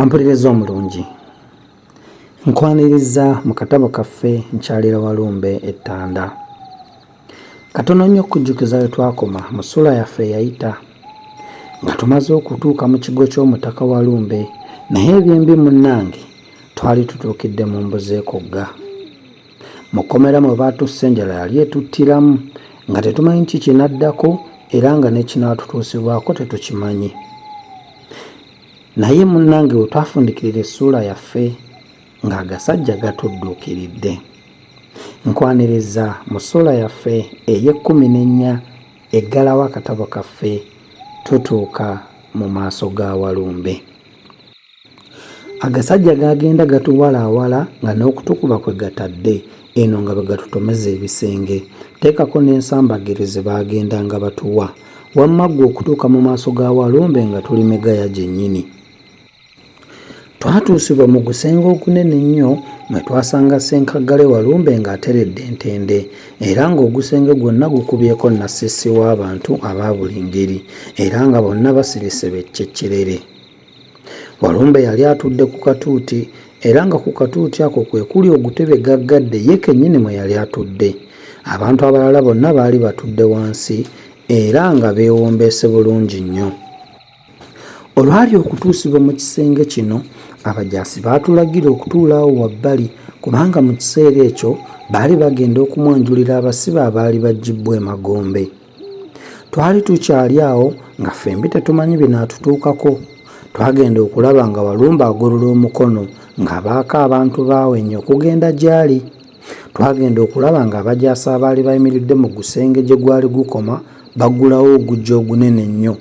ampuliriza omulungi nkwaniriza mu katabo kaffe nkyalira walumbe ettanda Katono nnyo okujjukiza we twakoma mu ssuula yaffe eyayita nga tumaze okutuuka mu kigo ky'omutaka wa lumbe naye ebyembi munnange twali tutuukidde mu mbuzi ekugga mu kkomera mwe baatussa enjala yali etuttiramu nga tetumanyi ki kinaddako era nga n'ekinaatutuusibwako tetukimanyi naye munnange we twafundikirira essuula yaffe ng'agasajja gatudduukiridde. Nkwaniriza mu ssuula yaffe ey'ekkumi n'ennya eggalawo akatabo kaffe tutuuka mu maaso ga Walumbe. Agasajja gaagenda gatuwalaawala nga n'okutukuba kwe gatadde eno nga bwe gatutomeza ebisenge. Teekako n'ensambagere ze baagendanga batuwa. Wamma ggwe okutuuka mu maaso ga Walumbe nga tuli megaya gyennyini. Twatuusibwa mu gusenge ogunene ennyo mwe twasanga Ssenkaggale Walumbe ng'ateredde entende era ng'ogusenge gwonna gukubyeko nassisi w'abantu aba buli ngeri era nga bonna basirise beccekkerere. Walumbe yali atudde ku katuuti era nga ku katuuti ako kwe kuli ogutebe gaggadde ye kennyini mwe yali atudde. Abantu abalala bonna baali batudde wansi era nga beewombeese bulungi nnyo. Olwali okutuusibwa mu kisenge kino, abajaasi baatulagira okutuula awo wabbali kubanga mu kiseera ekyo baali bagenda okumwanjulira abasibe abaali baggyibbwa emagombe. Twali tukyali awo nga ffembi tetumanyi binaatutuukako. Twagenda okulaba nga Walumbe agolola omukono ng'abaako abantu baawenye okugenda gy'ali. Twagenda okulaba ng'abajaasi abaali bayimiridde mu gusenge gye gwali gukoma baggulawo ogujja ogunene ennyo.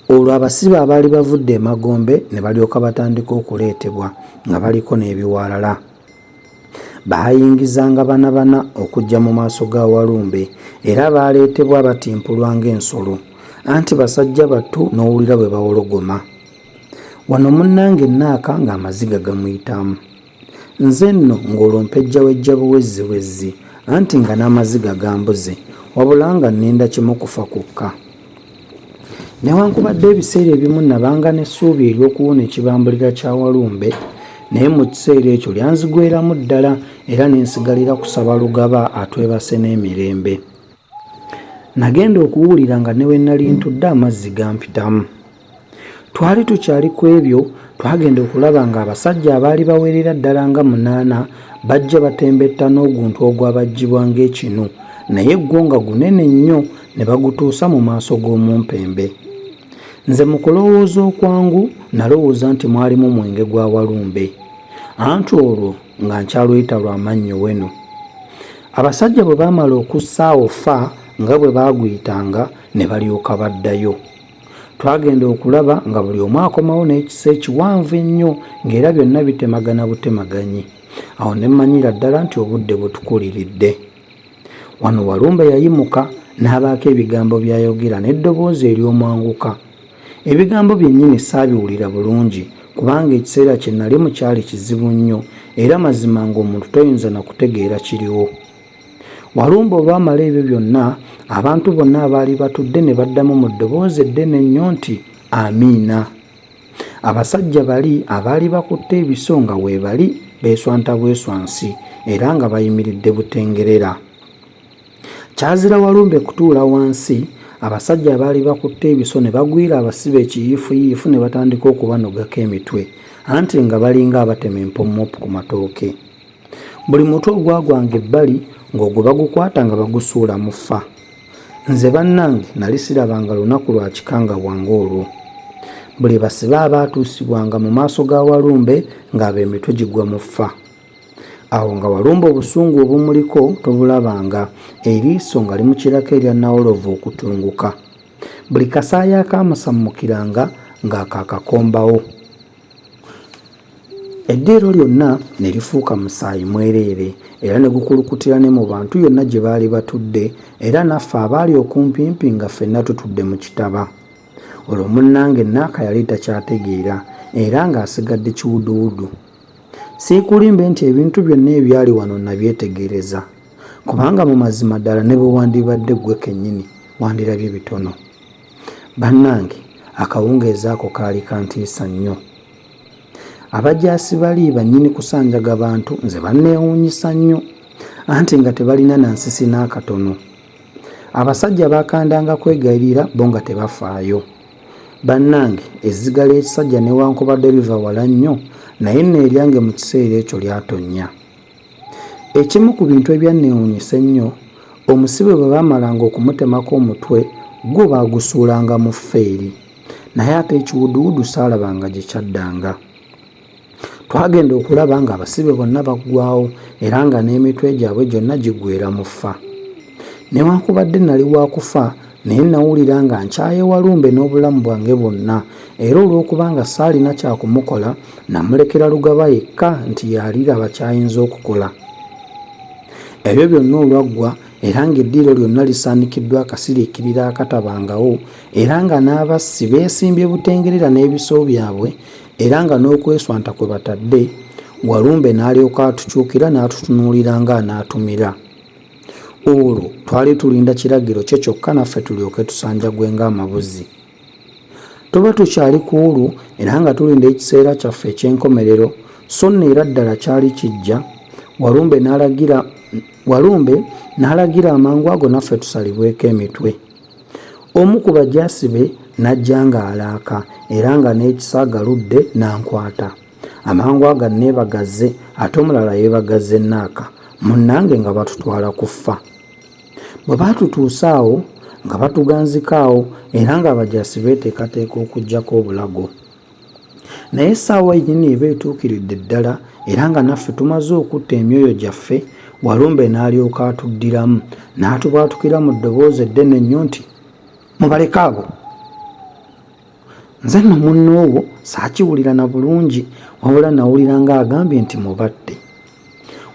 Olwo abasibe abaali bavudde emagombe ne balyoka batandika okuleetebwa nga baliko n'ebiwalala. Baayingizanga bana bana okujja mu maaso ga Walumbe era baaleetebwa batimpulwa ng'ensolo anti basajja battu n'owulira bwe bawologoma. Wano munnange Naaka ng'amaziga gamuyitamu. Nze nno ng'olwo mpejjawejja buwezziwezzi, anti nga n'amaziga gambuze, wabula nga nninda kimu kufa kwokka. Newankubadde ebiseera ebimu nabanga n'essuubi ery'okuwona ekibambulira kya Walumbe, naye mu kiseera ekyo lyanzigweramu ddala era ne nsigalira kusaba Lugaba atwebase n'emirembe. Nagenda okuwulira nga ne we nnali ntudde amazzi gampitamu. Twali tukyali ku ebyo, twagenda okulaba ng'abasajja abaali bawerera ddala nga munaana bajja batembetta n'oguntu ogwabajjibwa ng'ekinu, naye gwo nga gunene nnyo, ne bagutuusa mu maaso g'omumpembe. Nze mu kulowooza okwangu, nalowooza nti mwalimu mwenge gwa Walumbe, anti olwo nga nkyaluyita lwa mannyo wenu. Abasajja bwe baamala okussa awo ffa nga bwe baaguyitanga, ne balyoka baddayo. twagenda okulaba nga buli omu akomawo n'ekisa ekiwanvu ennyo ng'era byonna bitemagana butemaganyi awo ne mmanyira ddala nti obudde butukuliridde wano walumbe yayimuka n'abaako ebigambo by'ayogera n'eddoboozi ery'omwanguka ebigambo byennyini saabiwulira bulungi kubanga ekiseera kye nalimu kyali kizibu nnyo era mazima ng'omuntu toyinza na kutegeera kiriwo Walumbe olwamala ebyo byonna, abantu bonna abaali batudde ne baddamu mu ddoboozi eddene ennyo nti, Amiina! Abasajja bali abaali bakutte ebiso nga weebali beeswanta bweswansi era nga bayimiridde butengerera. Kyazira Walumbe kutuula wansi, abasajja abaali bakutte ebiso ne bagwira abasibe ekiyiifuyiifu ne batandika okubanogako emitwe, anti nga balinga abatema empommopu ku matooke. buli mutu ogwagwanga ebbali ng'ogwo bagukwata nga bagusuula mu fa nze bannange nali sirabanga lunaku lwa kikangabwa ng'olwo buli basibe abaatuusibwanga mu maaso ga walumbe ng'abo emitwe gigwa mu fa awo nga walumba obusungu obumuliko tobulabanga eriiso nga limukirako erya nawolovu okutunguka buli kasaayi akaamusammukiranga ng'akaakakombawo Eddiiro lyonna ne lifuuka musaayi mwereere, era ne gukulukutira ne mu bantu yonna gye baali batudde, era naffe abaali okumpimpi nga ffenna tutudde mu kitaba. Olwo munnange Naaka yali takyategeera, era nga asigadde kiwuduwudu. Siikulimbe nti ebintu byonna ebyali wano nnabyetegereza, kubanga mu mazima ddala ne bwe wandibadde ggwe kennyini, wandirabye bitono. Bannange akawungeezi ako kaali kantiisa nnyo. Abajaasi bali bannyini kusanjaga bantu nze banneewuunyisa nnyo anti nga tebalina na nsisi n'akatono. Abasajja baakandanga kwegayirira bo nga tebafaayo. Bannange ezziga ly'ekisajja newankubadde liva wala nnyo naye nno eryange mu kiseera ekyo lyatonnya. Ekimu ku bintu ebyanneewuunyisa ennyo, omusibe bwe baamalanga okumutemako omutwe, gwo baagusuulanga mu ffeeri. Naye ate ekiwuduwudu saalabanga gye kyaddanga. Twagenda okulaba ng'abasibe bonna baggwaawo era nga n'emitwe gyabwe gyonna giggweera mu ffa. Newankubadde nnali wa kufa, Naye nnawulira nga nkyaye Walumbe n'obulamu bwange bwonna era olw'okuba nga saalina kya kumukola, nnamulekera Lugaba yekka nti y'aliraba ky'ayinza okukola. Ebyo byonna olwaggwa era ng'eddiiro lyonna lisaanikiddwa akasiriikiriro akatabangawo era nga n'abassi beesimbye butengerera n'ebiso byabwe era nga n'okweswanta kwe batadde, Walumbe n'alyoka atukyukira n'atutunuulira ng'anaatumira. Olwo twali tulinda kiragiro kye kyokka naffe tulyoke tusanjagwe ng'amabuzi. Tuba tukyali ku olwo era nga tulinda ekiseera kyaffe eky'enkomerero, so nno era ddala kyali kijja. Walumbe n'alagira Walumbe n'alagira amangu ago naffe tusalibweko emitwe. Omu ku bajaasi be n'ajja ng'alaaka era nga n'ekisa agaludde n'ankwata. amangu aga neebagaze ate omulala yeebagaze naaka munnange nga batutwala kuffa bwe baatutuusa awo nga batuganzika awo era ng'abajaasi beeteekateeka okugyako obulago naye essaawa enyini eba etuukiridde ddala era nga naffe tumaze okutta emyoyo gyaffe walumbe n'alyoka atuddiramu n'atubwatukira mu ddoboozi eddene nnyo nti mubaleke abo Nze no munnoowo saakiwulira na bulungi wabula nawulira ng'agambye nti mubatte.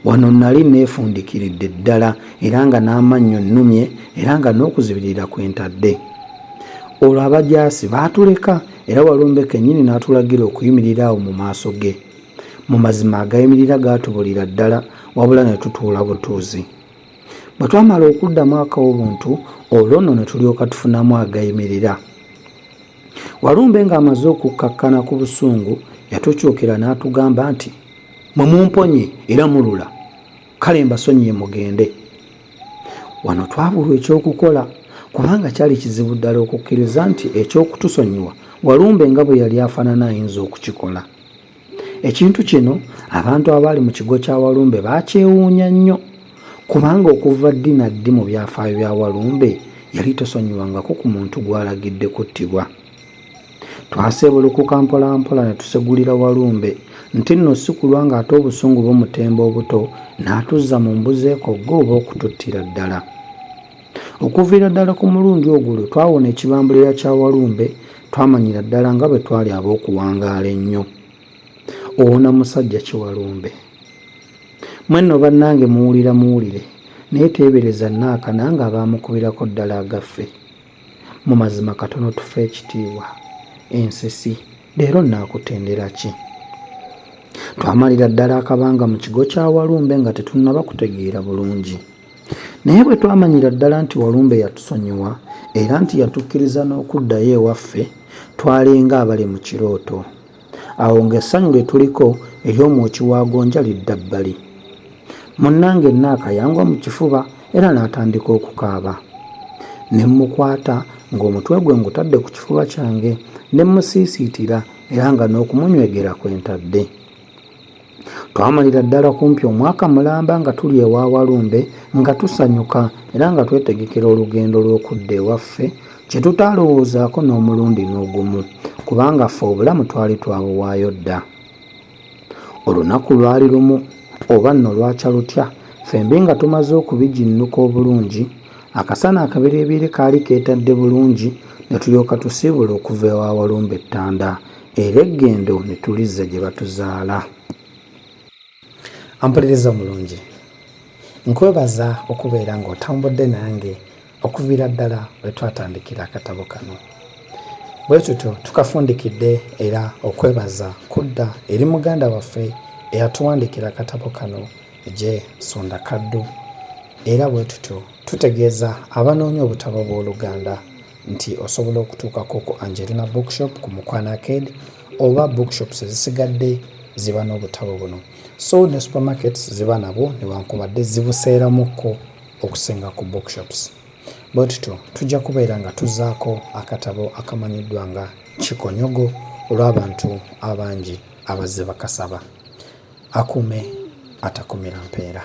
Wano nali neefundikiridde ddala era nga n'amannyo nnumye era nga n'okuzibirira kwe ntadde. Olwo abajaasi baatuleka era Walumbe kennyini n'atulagira okuyimirira awo mu maaso ge. Mu mazima agayimirira gaatubulira ddala wabula ne tutuula butuuzi. Bwe twamala okuddamu ak'obuntu, olwo nno ne tulyoka tufunamu agayimirira. Walumbe ng'amaze okukkakkana ku busungu, yatukyukira n'atugamba nti, Mwe mumponye era mulula, kale mbasonyiye mugende. Wano twabulwa eky'okukola kubanga kyali kizibu ddala okukkiriza nti eky'okutusonyiwa Walumbe nga bwe yali afaanana ayinza okukikola. Ekintu kino abantu abaali mu kigo kya Walumbe baakyewuunya nnyo kubanga okuva ddi na ddi mu byafaayo bya Walumbe yali tosonyiwangako ku muntu gw'alagidde kuttibwa. Twaseebulukuka mpolampola ne tusegulira Walumbe nti nno si kulwa ng'ate obusungu bumutemba obuto n'atuzza mu mbuzi ekogga oba okututtira ddala. Okuviira ddala ku mulundi ogwo lwe twawona ekibambulira kya Walumbe twamanyira ddala nga bwe twali ab'okuwangaala ennyo. Owona musajja ki Walumbe? Mwe nno bannange muwulira muwulire naye teebereza Naaka nange abaamukubirako ddala agaffe. Mu mazima katono tufe ekitiibwa. Ensisi leero nnaakutendera ki? Twamalira ddala akabanga mu kigo kya Walumbe nga tetunnaba kutegeera bulungi. Naye bwe twamanyira ddala nti Walumbe yatusonyiwa era nti yatukkiriza n'okuddayo ewaffe, twalinga abali mu kirooto. Awo ng'essanyu lye tuliko ery'omwoki wa gonja lidda bbali. Munnange Naaka yangwa mu kifuba era n'atandika okukaaba. Ne mmukwata ng'omutwe gwe ngutadde ku kifuba kyange ne mmusiisiitira era nga n'okumunywegera kwe ntadde. Twamalira ddala kumpi omwaka mulamba nga tuli ewa Walumbe nga tusanyuka era nga twetegekera olugendo lw'okudda ewaffe kye tutaalowoozaako n'omulundi n'ogumu kubanga ffe obulamu twali twabuwaayo dda. Olunaku lwali lumu oba nno lwakya lutya ffembi nga tumaze okubiginnuka obulungi akasana akabereebeere kaali keetadde bulungi ne tulyoka tusiibula okuva ewa Walumbe Ttanda era eggendo nitulizza gye batuzaala ampuliriza omulungi nkwebaza okubeera ng'otambudde nange okuviira ddala we twatandikira akatabo kano bwe tutyo tukafundikidde era okwebaza kudda eri muganda waffe eyatuwandiikira akatabo kano gye sunda kaddu era bwe tutyo tutegeeza abanoonya obutabo bw'oluganda nti osobola okutuukako ku Angelina Bookshop ku Mukwano Arcade oba bookshops ezisigadde ziba n'obutabo buno. So ne supermarkets ziba nabwo newankubadde zibuseeramukko okusinga ku bookshops. Bwe tutyo tujja kubeera nga tuzzaako akatabo akamanyiddwa nga Kikonyogo olw'abantu abangi abazze bakasaba. Akuume atakumira mpeera.